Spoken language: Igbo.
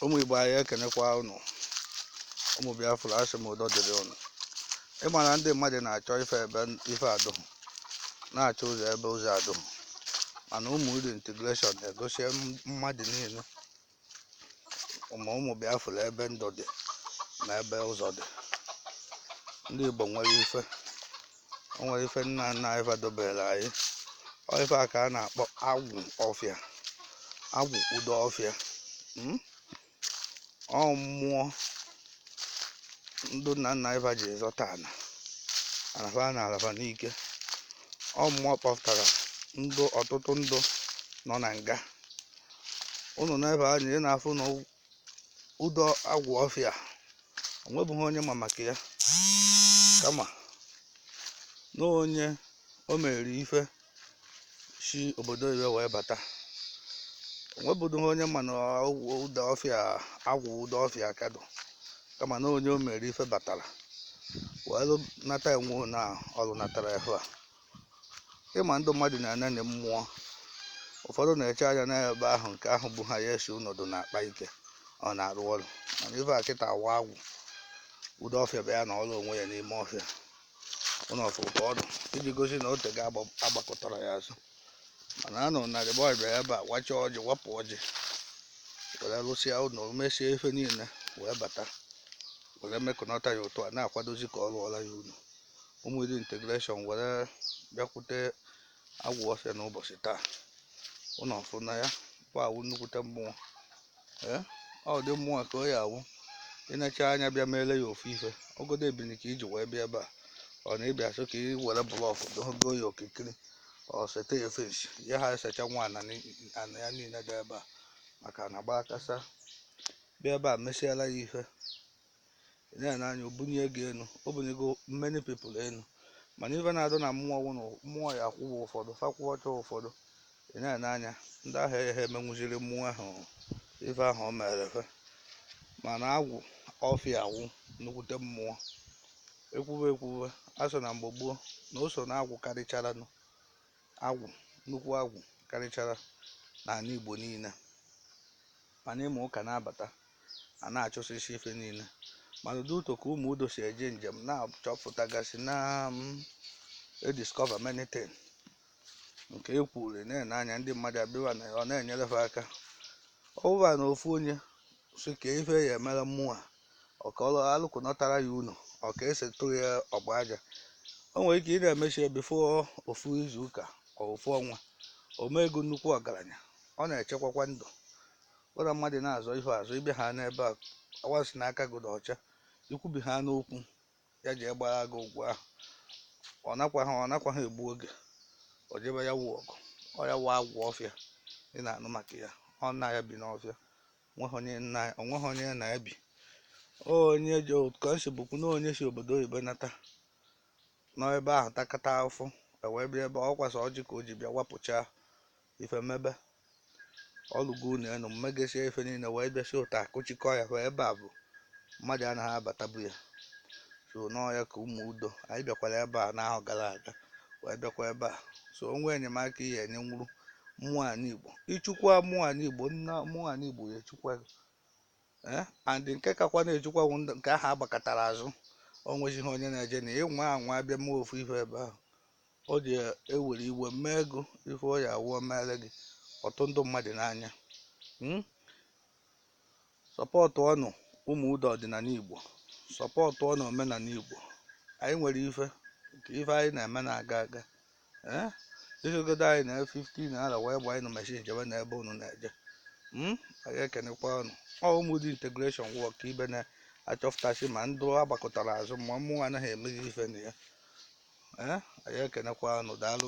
ụmụ igbo anyị ekenekwa ụnụ ụmụ biafra asị m udo dịrị ụnụ ị ma na ndị mmadụ na-achọ ife ebe ife adụghị na-achọ ụzọ ebe ụzọ adụghị mana ụmụ eri integration na-egosi mmadụ niile ma ụmụ biafra ebe ndụ dị na ebe ụzọ dị ndị igbo nwere ife o nwere ife nna nna anyị fa dobere anyị ọ ife a ka a na-akpọ agwụ ọfịa agwụ udo ọfịa mm? ọ mmụọ ndụ nna nna anyị fa ji zọta ana fa na ala fa n'ike ọ mmụọ kpọpụtara ndụ ọtụtụ ndụ nọ na nga ụnụ na-ene anya ị na-afụ na udo agwụ ọfịa o nwebughị onye ma maka ya kama na onye o mere ife si obodo oyibo wee bata o nwebughị onye ma na agwụ udo ọfịa agwụ udo ọfịa ka dụ kama na onye o mere ife batara wee lụ- nata enwe na ọlụ natara efe a ị ma ndị mmadụ na-enene mmụọ ụfọdụ na-eche anya n'ebe ahụ nke ahụ bụ ha ya esi nọdụ na-akpa ike ọ na-arụ ọrụ mana ife a kịta awa agwụ udo ọfịa bụ ya nọọrọ onwe ya n'ime ọfịa ụnụ afụ ka ọ nọ iji gosi na o teego a gbakụtara ya azụ mana honourable bịara ebe a wachaa ọjị wapụ ọjị were rụsịa ụlọ mesie ife niile wee bata were mekọnata ya otu a na-akwadozi ka ọ rụọla ya ụlọ ụmụ eri integration were bịakwute agwụ ọfịa n'ụbọchị taa ụnụ afụ na ya kwa awụ nnukwute mmụọ ee ụdị mmụọ ka ọ ya awụ ị necha anya bịa meele ya ofu ife ogodo ebini ka i ji wee bịa ebe a ọ na ị bịa sị ka i were blọkụ dogo ya okirikiri ọ sete ya fensi ya ha esecha nwa ana ni- ana ya niile dị ebe a maka na gbakasa bịa ebe a mesiela ya ife ị na-ene anya o bunye gị enu o bunyego many people enu mana ife na-adụ na mmụọ wụ na mmụọ ya akwụwa ụfọdụ fa kwụọ ọcha ụfọdụ ị na-ene anya ndị ahụ ha emenwụziri mmụọ ahụ ife ahụ o mere fe mana agwụ ọfịa awụ nnukwute mmụọ ekwuwe ekwuwe a sị na mgbe gboo na o so na agwụ karịchara nụ agwụ nnukwu agwụ karịchara n'ana igbo niile mana ị ma ụka na-abata a na-achụsịsị ife niile mana ụdị otu ka ụmụ udo si eje njem na-achọpụtagasị na-ediscover many things nke e kwuru na-ene anya ndị mmadụ abịa na ọ na-enyere ha aka ọ bụba na ofu onye sị ka ife ya emere mmụọ ọ ka ọ alụkọnatara ya ụnọ ọ ka esi tụrụ ya ọgba aja o nwere ike ị na-emecha ya bifo ofu izu ụka ọ ofu ọnwa o mee ego nnukwu ọgaranya ọ na-echekwakwa ndụ Ụra mmadụ na-azọ ihu azọ ị bịa ha n'ebe a awa si n'aka gị dị ọcha, i kwubi ha n'okwu ya jee gbara gị ụgwọ ahụ. Ọ nakwaghị ọ nakwaghị egbu oge o jebe ya wụ ọgụ. Ọ ya wụ agwụ ọfịa ị na-anụ maka ya. Ọ nna ya bi n'ọfịa. O nweghị onye nna ya o nweghị onye ya na ya bi. Onye ji ka o si bụkwu na onye si obodo oyibo nata nọ ebe ahụ takata afụfụ ewee bịa ebe a, ọ kwasa ọjị ka o ji bịa wapụchaa ife mebe ọlụgo unu enu mmegesie ife niile wee bịasie ụta akụchikọ ya wee ebe a bụ mmadụ anaghị abatabu ya so n'ọ ya ka ụmụ udo anyị bịakwara ebe a n'ahọ gara aga wee bịakwa ebe a so o nwee enyemaka ihe enye nwụrụ mmụọ ana igbo ichekwa mmụọ ana igbo na mmụọ ana igbo ya echekwa gị ee and nke kakwa na-echekwa bụ ndị nke ahụ agbakụtara azụ o nwezighị onye na-eje na ị nwaa anwa abịa mee ofu ife ebe ahụ O ji ewere iwe mee gị ife ọ ya awụ o mere gị ọ tụ ndị mmadụ n'anya Hmm? supportụọnụ ụmụ udo ọdịnala igbo supportụọnụ omenala igbo anyị nwere ife nke ife anyị na-eme na-aga aga Eh? i sogodo anyị na 15 naira wee gba anyị na machine jebe n'ebe unu na-eje Hmm? anyị ekenekwa unu ọ ụmụ udo integration wọk ibe na achọpụtasị ma ndị agbakụtara azụ ma mmụọ anaghị emeghị ife na ya ee anyị ekenekwa unu daalụ